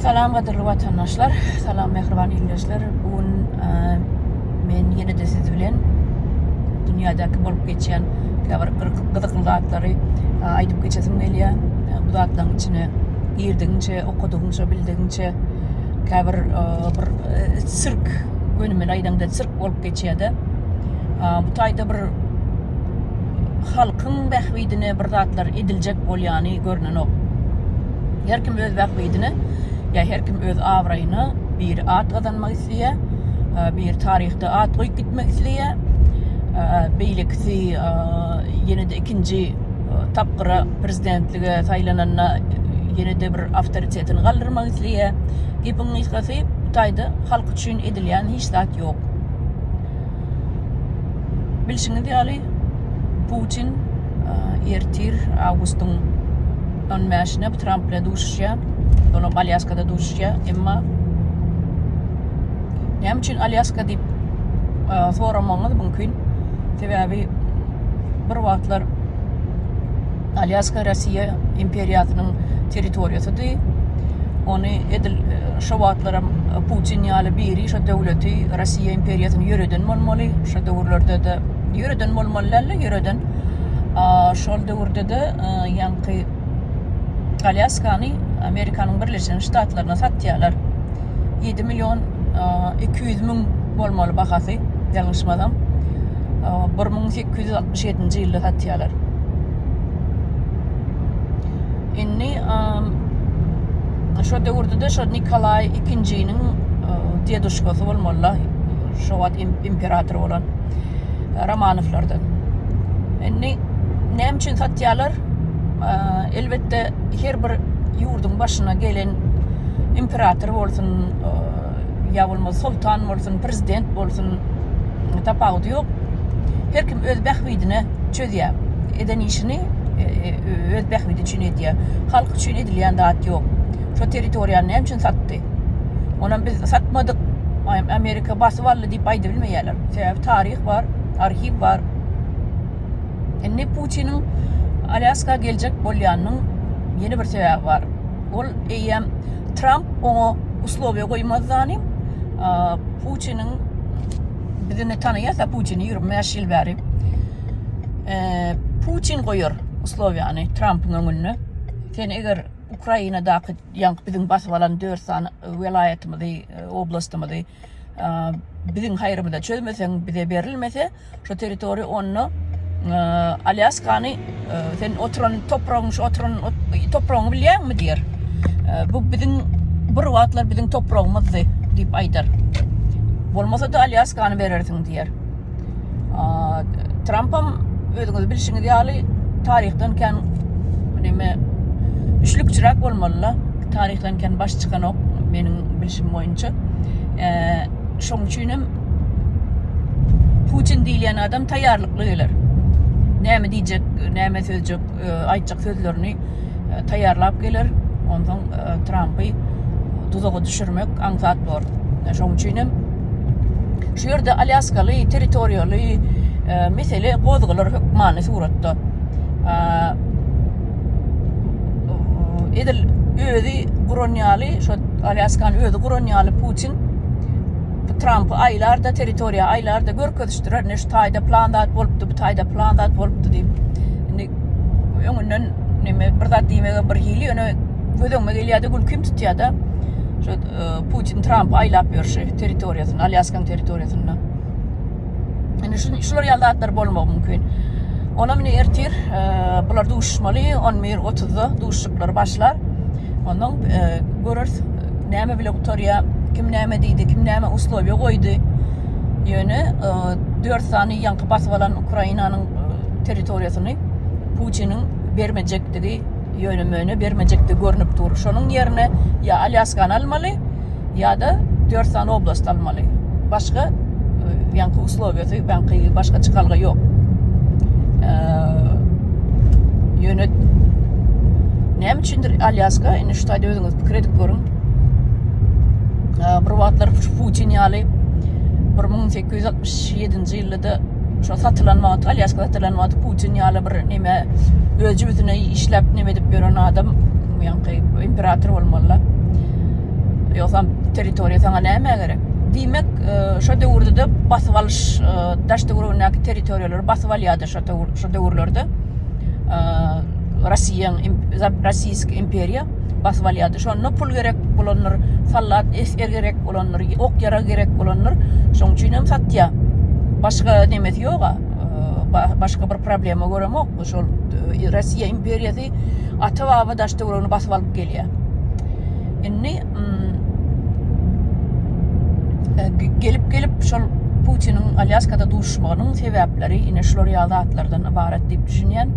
Salam gadyrly watandaşlar, salam mähriban ildeşler. Bu gün men ýene-de siz bilen dünýädäki bolup geçýän käbir gyzykly zatlary aýdyp geçesim gelýär. Bu zatlaryň içine girdigiňçe, okadygyňça, bildigiňçe käbir bir sirk, gönümel aýdaňda sirk bolup geçýär-de. Bu taýda bir halkyň bähbidine bir zatlar ediljek bolýany görnenok. Her kim öz bähbidine, ýa her kim öz abraýyna bir at gazanmak isleýär, e, bir taryhda at goýup gitmek isleýär. E, beýlekisi e, ýene-de ikinji tapgyra prezidentlige saýlananda ýene-de bir awtoritetini galdyrmak isleýär. Gepiň gysgasy, bu taýda halk üçin edilýän hiç zat ýok. Bilşiňiz ýaly, Putin ertir awgustyň 15-ine Tramp bilen duşuşýar. Olam Alýaskada duşuşýar. Emma näme üçin Alýaska diýip soramagyňyz mümkin. Sebäbi bir wagtlar Alýaska Russiýa imperiýasynyň territoriýasydy. Ony edil şo wagtlaram Putin ýaly biri şo döwleti Russiýa imperiýasyny ýöreden bolmaly. Şo döwürlerde-de ýöreden bolmaly dälde ýöreden. Şol döwürde-de ýaňky Alýaskany Amerikanyň Birleşen Ştatlaryna satýarlar. Ýedi million iki ýüz müň bolmaly bahasy ýalňyşmasam. Bir müň sekiz ýüz altmyş ýedinji ýylda satýarlar. Indi şo döwürde-de şo Nikolaý ikinjiniň deduşkasy bolmalyla, şo wagt imperator bolan Romanowlardan. Indi näme üçin satýarlar? Elbetde her bir ýurduň başyna gelen imperator bolsun, ýa bolmasa soltan bolsun, prezident bolsun, tapawudy ýok. Her kim öz bähbidine çözýär. Eden işini e, e, öz bähbidi üçin edýär. Halk üçin edilýän zat ýok. Şo territoriýany näme üçin satdy? Onam biz satmadyk. Amerika basyp aldy diýip aýdybilmeýärler. Sebäbi taryh bar, arhiw bar. Indi Putiniň Alýaska geljek bolýanynyň ýene bir sebäbi bar. ol eýýäm Tramp oňa uslowiýa goýmazdanym, Putiniň bizini tanaýarsa Putini 25 ýyl bäri Putin goýar uslowiýany Trampyň öňünde. Sen eger Ukrainadaky ýaňky biziň basyp alan 4 sany welaýatymyzy, oblastymyzy biziň haýrymyza çözmeseň, bize berilmese şu territoriýa, onda Alýaskany sen oturan topragyň, şu oturan topragyňy bilýäňmi diýer. Bu biziň bir wagtlar biziň topragymyzdy diýip aýdar. Bolmasa-da Alýaskany berersiň diýer. Trampam özüňiz bilşiňiz ýaly taryhdan kän neme üçlükçiräk bolmaly-la. Taryhdan kän baş çykanok meniň bilşim boýunça. Şoň üçin hem Putin diýilýän adam taýýarlykly geler. Näme diýjek, näme sözjek, aýtjak sözlerini e, taýýarlap geler. Ondan e, Trumpy duzaga düşürmek aňsat bor. E, şoň üçin hem şu ýerde Alýaskaly territoriýaly e, mesele gozgalar hökmany suratda. E, edil özi guran ýaly, şu Alýaskany özi guran ýaly Putin Trump aýlarda territoriýa aýlarda görkezişdirer. Ne şu taýda plan zat bolupdy, bu taýda plan zat bolupdy diýip. Indi öňünden neme bir zat diýmege bir hili ýöne göz öňüme gelýärdi gülkim tutýarda şu e, Putin Tramp aýlap ýörşi territoriýasyny Alýaskaň territoriýasyny indi şu şular ýaly zatlar bolmagy mümkin Ona mine ertir e, bular duşmaly 11.30-da duşuşyklar başlar ondan e, görürs näme bile gutarýa kim näme diýdi kim näme uslowiýa goýdy ýöne 4 sany ýaňky basyp alan Ukrainanyň territoriýasyny Putiniň bermejekdigi, ýöne-möne bermejekdigi görnüp dur. Şonuň ýerine ýa Alýaskany almaly, ýa-da dört sany oblast almaly. Başga ýaňky e, uslowiýasy, ýaňky başga çykalga ýok. E, ýöne näme üçindir Alýaska, indi şu taýda özüňiz pikir edip görüň. E, bir wagtlar Putin ýaly 1867-nji ýylda Ýa-da şo satylan wagty, Alýaska satylan wagty Putin ýaly bir neme öz jübüsine işläp neme edip ýören adam ýaňky imperator bolmaly-la. Ýogsam territoriýa saňa nämä gerek? Diýmek, e, şo döwürde-de basyp alyş, e, daş töweregindäki territoriýalary basyp alýardy şo döwürlerde. E, Rossiýa, Rossiýski imperiýa. basyp alýardy. Şonda pul gerek bolandyr, sallat esger gerek bolandyr, ok ýarag gerek bolandyr. Şoň üçin hem satýar. Başga nemesi ýoga. Başga bir problema göremok. Şol e, Russiýa imperiýasy ata baba daş töweregini basyp alyp gelýär. Indi mm, e, gelip gelip şol Putiniň Alýaskada duşmagynyň sebäpleri ine şular ýaly zatlardan ybarat diýip düşünýän.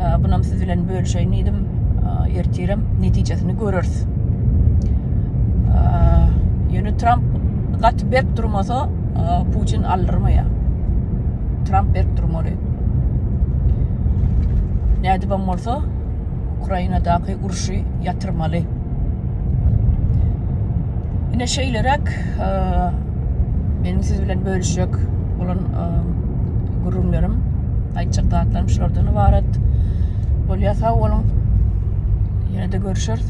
E, Bunam siz bilen bölüşeýin diýdim ertirem netijesini göreris ýöne tramp gaty berk durmasa putin aldyrmaýar tramp berk durmaly nädibem bolsa ukrainadaky urşy ýatyrmaly ine şeýleräk Meniň siz bilen bölüşjek bolan gürrüňlerim, aýtjak zatlarym şulardan ybarat. Bolýa sag boluň. Ýene-de görüşeris.